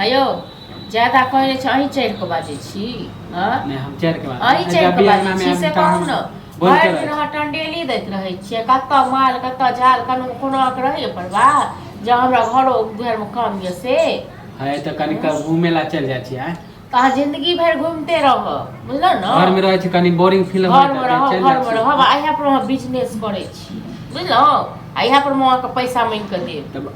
हेयौ ज्यादा कहै नहि छै अहीं चढ़ि कऽ बाजै छी हँ नहि हम चढ़ के बात अहीं चढ़ि कऽ बाजै छी से कहू ने भरि दिन अहाँ टंडेली दैत रहै छियै कतऽ माल कतऽ झाल कोनो कोनो अहाँके रहैए परवाह जे हमरा घरो दुआरिमे काम यऽ से है तऽ कनि क घूमे ला चलि जाइ छियै तऽ अहाँ जिन्दगी भरि घुमिते रहब बुझलहुँ ने घर मे रहै छी कनि बोरिंग फील घर मे रहब घर मे रहब आ इएह पर अहाँ बिजनेस करै छी बुझलहुँ आ इएह पर अहाँके पैसा मांगि कऽ देब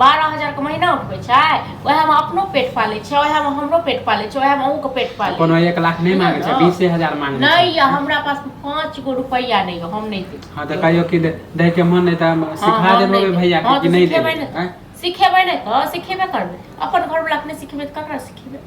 बारह हजारके महीना उठबै छै ओएहमे अपनो पेट पालै छै ओएहमे हमरो पेट पालै छै ओएहमे अहूँके पेट पालै कोनो एक लाख नहि मांगे छै बीसे हजार मांगे नहि यऽ हमरा पास पाँच गो रुपैआ नहि यऽ हम नहि देब हाँ तऽ कहियो कि दै के मन नहि तऽ सिखा देबै भैया कि हाँ, तो नहीं देबै सिखेबै ने तो सिखेबे करबै अपन घर वाला अपने सिखेबै तो ककरा सिखेबै